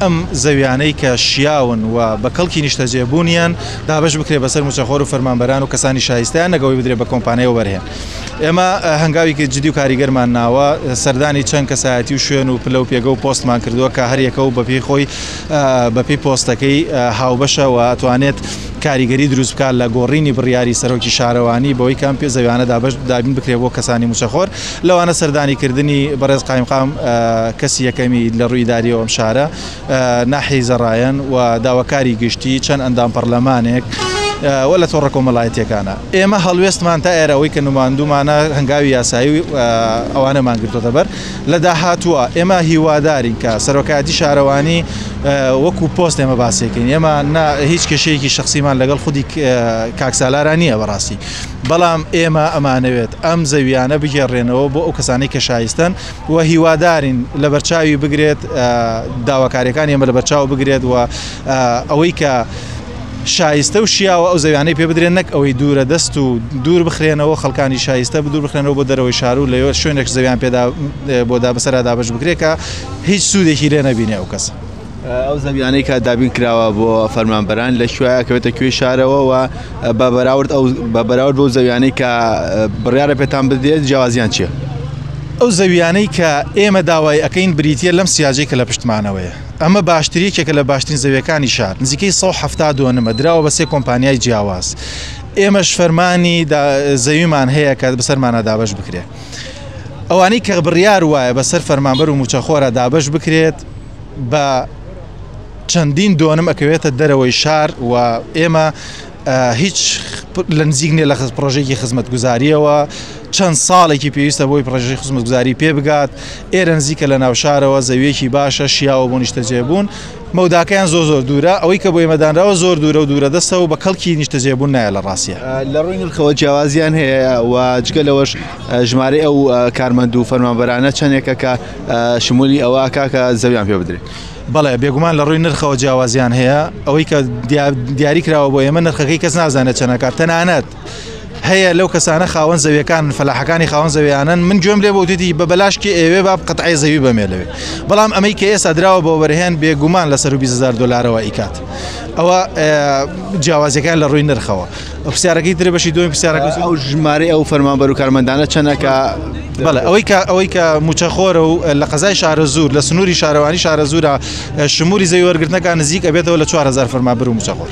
ئەم زەویانەی کە شیاون و بە کەڵکی نیشتەجێ بوونیان دابەش بکرێت بەسەر موچەخۆر و فەرمانبەران و کەسانی شایستەیان نەک ئەوەی بدرێت بە کۆمپانیا وەبەرهێن. ئێمە هەنگاویکی جدی و کاریگەرمان ناوە، سەردانی چەند کەسایەتی و شوێن و پلە و پێگە و پۆستمان کردووە کە هەر یەکە و بە پێی خۆی بە پێی پۆستەکەی هاوبەشە و ئەتوانێت کاریگەری دروست بکات لە گۆڕینی بڕیاری سەرۆکی شارەوانی بەوەی کە ئەم زەویانە دابەش دابین بکرێت بۆ کەسانی موچەخۆر. لەوانە سەردانی کردنی بەڕێز قایمقام کەسی یەکەمی لە ڕووی ئیداریەوە ئەم شارە ناحی زەڕایەن و داواکاری گشتی چەند ئەندام پەرلەمانێک و لە تۆڕە کۆمەڵایەتیەکانە ئێمە هەڵوێستمان تا ئێرەوەی کە نوماندومانە هەنگاوی یاسایی و ئەوانەمان گرتۆتە بەر لە داهاتووە ئێمە هیوادارین کە سەرۆکایەتی شارەوانی وەکو پۆست ئێمە باسیەکەین ئێمە هیچ کێشەیەکی شخصیمان لەگەڵ خودی کاکسالارانیە بەڕاستی بەڵام ئێمە ئەمانەوێت ئەم زەوییانە بگێڕرێنەوە بۆ ئەو کەسانەی کە شایستەن و هیوادارین لەبەرچاوی بگرێت داواکاریەکانی ئێمە لەبەرچاو بگرێت و ئەوەی کە شایستە و شیاوە ئەو زەویانەی پێ بدرێن نەک ئەوەی دوورە دەست و دوور بخرێنەوە خەڵکانی شایستە بدور بخرێنەوە بۆ دەرەوەی شارو لەوێ شوێنێک زەویان پێدا بۆدا بەسەردا بەش بگرێکە هیچ سوودێکی لێ نەبینێ ئەو کەس. ئەو زەویانەی کە دابین کراوە بۆ فەرمانبەران لە کوێە کەوێتە کوێی شارەوە و بە بەراورد ئەو بە بەراورد بۆ زەویانەی کە بڕیاە پێتان بدێت جیازیان چیە؟ ئەو زەویانەی کە ئێمە داوای ئەەکەین بریتە لەم سیاجێک کە لە پشتمانەوەیە ئەمە باشتریەکێکە لە باشترین زەویەکانی شار نزیکەی 1970 دۆنمە دراوە بە سێ کۆمپانیای جیاواز ئێمەش فەرمانی زەویمان هەیە کە بەسەرمانە دابش بکرێت ئەوانەی کە بڕیار وایە بەسەر فەرمانبەر و موچەخۆرە دابش بکرێت بە چەندین دۆنم ئەکەوێتە دەرەوەی شار و ئێمە هیچ لە نزیک نیە لە خز پرۆژێکی خزمەتگوزاریەوە چەند ساڵێکی پێویستە بۆی پرۆژی خزمەتگوزاری پێ بگات ئێرە نزیکە لە ناوشارەوە زەویەکی باشە شیاوە بۆ نیشتەجێبوون مەوداکەیان زۆ زۆر دوورە ئەوەی کە بۆ ئێمەدانراوە زۆر دوورە و دوورە دەستەوە بە کەڵکی نیشتەجێبوون نایە لە ڕاستە لە ڕووی نرخەوە جیاوازیان هەیە و جگە لەوەش ژمارە ئەو کارمەند و فەرمانبەرانە چەندێکە کە شمولی ئەوە ئەکا کە زەویان پێ بدرێت. بەڵێ بێگومان لە ڕووی نرخەوە جیاوازیان هەیە ئەوەی کە دیاری کراوە بۆ ئێمە نرخەکەی کەس نازانێت چەنەکات تەنانەت هەیە لەو کەسانە خاوەن زەویەکان فەلاحەکانی خاوەن زەویانن من گوێم لێ بۆتیتی بە بەلاشکی ئێوێ با قەتعی زەوی بەمێ لەوێ بەڵام ئەمەی کە ئێستا دراوە بۆ وەرهێن بێگومان لە سەر 20هزار دلارەوە ئیکات ئەوە جیاوازەکان لە ڕووی نرخەوە. پرسیارەکەی ترێ بەشی دوێن پرسیارەکە ئەو ژمارەی ئەو فەرمانبەر و کارمەندانە چەندەکە بەڵێ ئەوەی کە ئەوەی کە موچەخۆرە و لە قەزای شارە زور لە سنووری شارەوانی شارە زورە شموری زەوی وەرگرتنەکان نزیک ئەبێتەوە لە 4هزار فەرمابر و موچەخۆر.